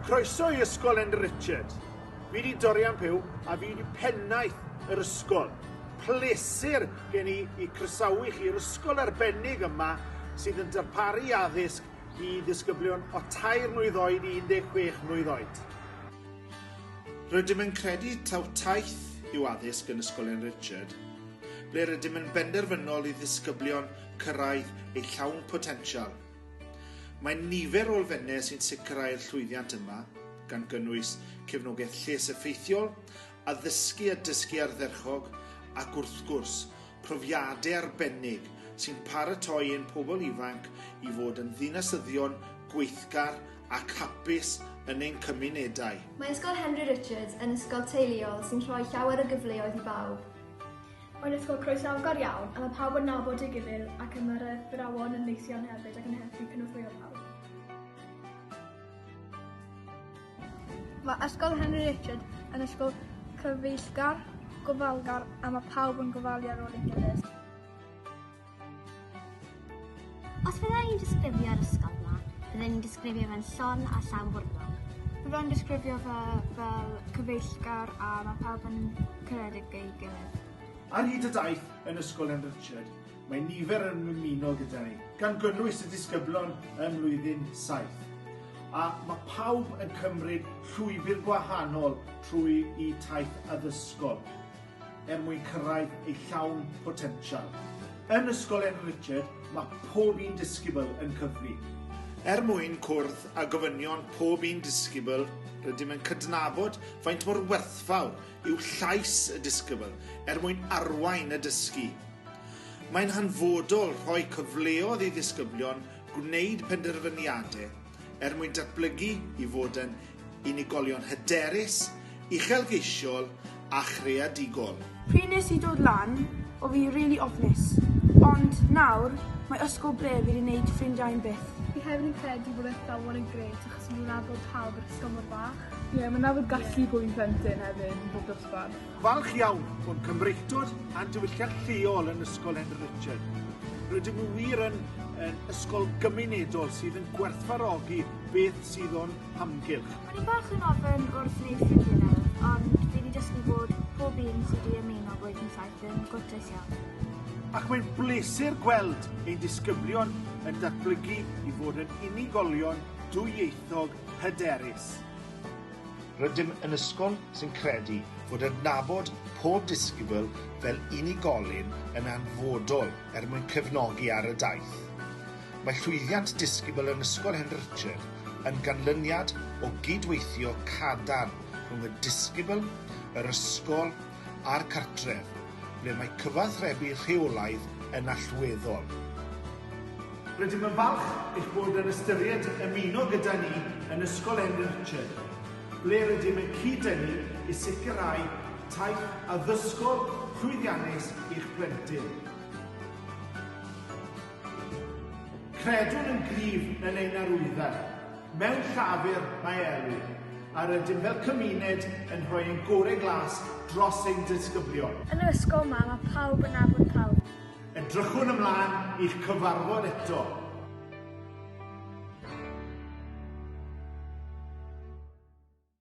Croeso i Ysgol Andy Richard. Fi di Dorian Pew a fi di pennaeth yr ysgol. Plesur gen i i croesawu chi i'r ysgol arbennig yma sydd yn darparu addysg i ddisgyblion o tair mlwydd oed i 16 mlwydd oed. Rydym yn credu taw taith yw addysg yn Ysgol Andy Richard, ble rydym yn benderfynol i ddisgyblion cyrraedd ei llawn potensial. Mae nifer o elfennau sy'n sicrhau'r llwyddiant yma, gan gynnwys cefnogaeth lles effeithiol, addysgu a dysgu ardderchog, ac wrth gwrs, profiadau arbennig sy'n paratoi ein pobl ifanc i fod yn ddinasyddion gweithgar ac hapus yn ein cymunedau. Mae Ysgol Henry Richards yn ysgol teuluol sy'n rhoi llawer o gyfleoedd i bawb. Mae'n ysgol croesawgar iawn a mae pawb yn nabod ei gilydd ac y mae'r athrawon yn neis iawn hefyd ac yn helpu cynorthwyo pawb. Mae Ysgol Henry Richard yn ysgol cyfeillgar, gofalgar a mae pawb yn gofalu ar ôl ei gilydd. Os bydda i'n disgrifio'r ysgol yma, bydda i'n disgrifio fe'n llon a llawn bwrlwm. Bydda i'n disgrifio fe fel cyfeillgar a ma' pawb yn caredig ei gilydd. Ar hyd y daith yn Ysgol N. Richard, mae nifer yn ymuno gyda ni, gan gynnwys y disgyblion ym mlwyddyn saith, a ma' pawb yn cymryd llwybr gwahanol trwy 'u taith addysgol. er mwyn cyrraedd ei llawn potensial. Yn Ysgol Enw Richard, mae pob un disgybl yn cyfri. Er mwyn cwrdd â gofynion pob un disgybl, rydym yn cydnabod faint mor werthfawr yw llais y disgybl er mwyn arwain y dysgu. Mae'n hanfodol rhoi cyfleodd i ddisgyblion gwneud penderfyniadau er mwyn datblygu i fod yn unigolion hyderus, uchelgeisiol a chreadigol. Pryd nes i dod lan o fi rili ofnus, ond nawr mae ysgol ble fi di neud ffrindiau yn byth. Fi hefyd yn credu bod athrawon yn grêt achos ma' nhw'n addo pawb i'r ysgol mor fach. Ie, ma' 'na fod gallu bod yn blentyn hefyd yn bob dosbarth. Falch iawn o'n Cymreictod a'n diwylliant lleol yn Ysgol Henry Richard. Rydym nhw wir yn, yn ysgol gymunedol sydd yn gwerthfarogi beth sydd o'n hamgylch. O'n i'n bach yn ofyn wrth wneud ffrindiau nawr, ond fi wedi dysgu bod pob un sydd wedi ymuno Blwyddyn Saith yn gwrtais iawn. Ac mae'n bleser gweld ein disgyblion yn datblygu i fod yn unigolion dwyieithog hyderus. Rydym yn ysgol sy'n credu bod adnabod pob disgybl fel unigolyn yn anfodol er mwyn cefnogi ar y daith. Mae llwyddiant disgybl yn Ysgol Hen Richard yn ganlyniad o gyd-weithio cadarn rhwng y disgybl, yr ysgol a'r cartref, ble mae cyfathrebu rheolaidd yn allweddol. Rydym yn falch eich bod yn ystyried ymuno gyda ni yn Ysgol N. Richard, ble rydym yn cyd-dynnu i sicrhau taith addysgol llwyddiannus i'ch plentyn. Credwn yn gryf yn ein arwyddau. Mewn llafur, mae Elw, a rydym fel cymuned yn rhoi ein gorau glas dros ein disgyblion. Yn yr ysgol 'ma, mae pawb yn nabod pawb. Edrychwn ymlaen i'ch cyfarfod eto!